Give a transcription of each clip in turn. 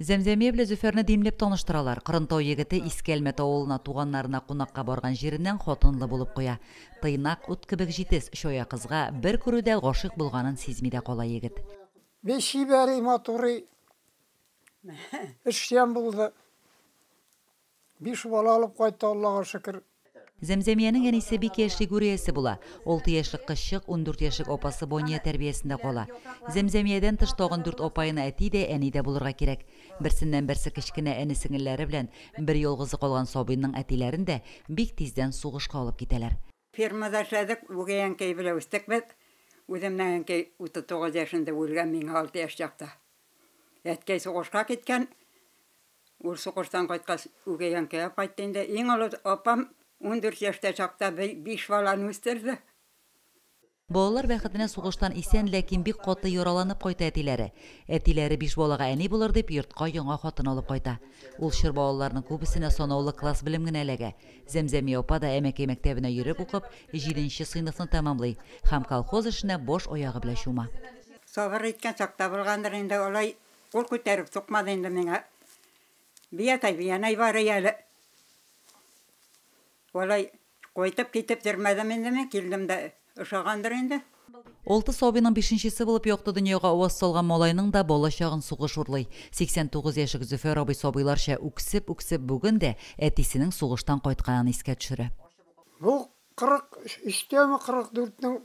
Зәмзәмия белән Зөфәрне димләп таныштыралар. Кырынтау егете Искәлмәт авылына туганнарына кунакка барган җиреннән хатынлы булып куя. Тыйнак, ут кебек җитез, чая кызга бер күрүдә гашыйк булганын сизми дә кала егет. Бик чибәри, матури, эшчән булды. Биш бала алып кайтты Аллага шөкер. Зәмзәмиянең әнисе бик яшьли гүриясе була. Алты яшьлек кызчык ундүрт яшьлек апасы Бония тәрбиясендә кала. Зәмзәмиядән тыш тагын дүрт апаена әти дә, әни дә булырга кирәк. Берсеннән-берсе кечкенә эне-сеңелләре белән бер ялгызы калган сабыйның әтиләрен дә бик тиздән сугышка алып китәләр. Фермада эшләдек, үгәй әнкәй белән үстек без. Үземнең әнкәй 39 яшендә үлгән, миңа алты яшь чакта. Әткәй сугышка киткән. Ул сугыштан кайткач, үгәй әнкәйгә кайтты инде. Иң олы апам ундүрт яшьтә чакта биш баланы үстерде. Балалар бәхетенә сугыштан исән, ләкин бик каты яраланып кайта әтиләре. Әтиләре биш балага әни булыр дип, йортка яңа хатын алып кайта. Ул чор балаларның күбесенә санаулы класс белем генә эләгә. Зәмзәмия апа да әмәкәй мәктәбенә йөреп укып, җиденче сыйныфны тәмамлый һәм колхоз эшенә баш аягы белән чума. Сабыр иткән чакта булгандыр инде, алай кул күтәреп сукмады инде миңа. Биятәй, биянәй бар ияле. Алай кайтып китеп йөрмәдем инде мин, килдем дә ошагандыр инде. Алты сабыйның бишенчесе булып якты дөньяга аваз салган малайның да бала чагын сугыш урлый. 89 яшек Зөфәр абый сабыйларча үксеп-үксеп бүген дә әтисенең сугыштан кайтканын искә төшерә. Бу 43тәме, 44нең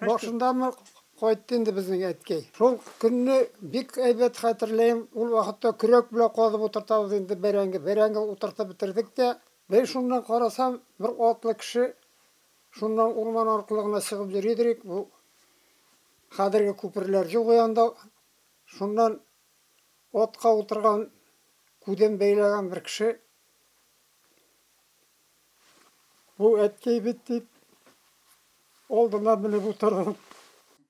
башындамы кайтты инде безнең әткәй. Шул көнне бик әйбәт хәтерләем, ул вакытта көрәк белән казып утыртабыз инде бәрәңге. Бәрәңге утыртып бетердек тә, Бер шуннан карасам, бер атлы кеше шуннан урман аркылы гына чыгып йөридер ик, бу хәзерге күперләр юк и анда, шуннан атка утырган, күзен бәйләгән бер кеше, Бу әткәй бит, дип, Алдына менеп утырдым.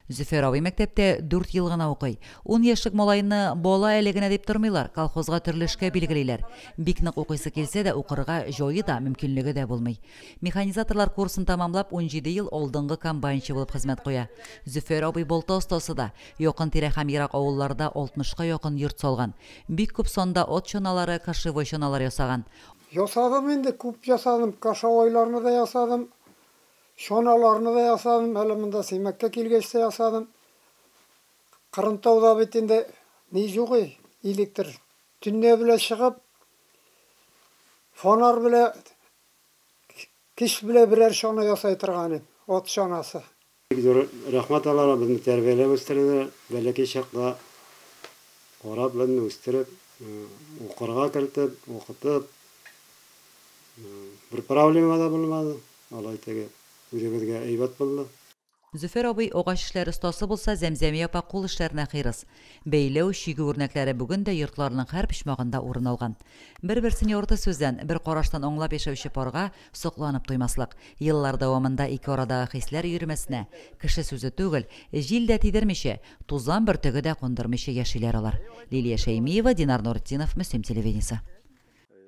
Зөфәр абый мәктәптә дүрт ел гына укый. Ун яшьлек малайны бала әле генә дип тормыйлар, колхозга төрле эшкә билгелиләр. Бик нык укыйсы килсә дә, укырга җае да, мөмкинлеге дә булмый. Механизаторлар курсын тәмамлап, унҗиде ел алдынгы комбайнчы булып хезмәт куя. Зөфәр абый балта остасы да. Якын-тирә һәм ерак авылларда алтмышка якын йорт салган. Бик күп санда от чаналары, кошевой чаналар ясаган. Ясадым инде, күп ясадым. Кошовойларны да ясадым. Чаналарны да ясадым, әле монда Сыймәккә килгәч тә ясадым. Кырынтауда бит инде ни юк и, электр. Төнлә белә чыгып, фонарь белә, кич белә берәр чана ясай торган идем, ат чанасы. Бик зур рәхмәт аларга, безне тәрбияләп үстерделәр, бәләкәй чакта карап, безне үстереп, укырга кертеп, укытып, бер проблема да булмады. Алай теге үзебезгә әйбәт булды. Зөфәр абый агач эшләре остасы булса, Зәмзәмия апа кул эшләренә хирыс. Бәйләү, чигү үрнәкләре бүген дә йортларының һәр почмагында урын алган. Бер-берсен ярты сүздән, бер караштан аңлап яшәүче парга сокланып туймаслык. Еллар дәвамында ике арадагы хисләр өермәсенә, кеше сүзе түгел, җил дә тидермичә, тузан бөртеге дә кундырмыйча яшиләр алар. Лилия Шәймиева, Динар Нуретдинов, Мөслим телевидениесе.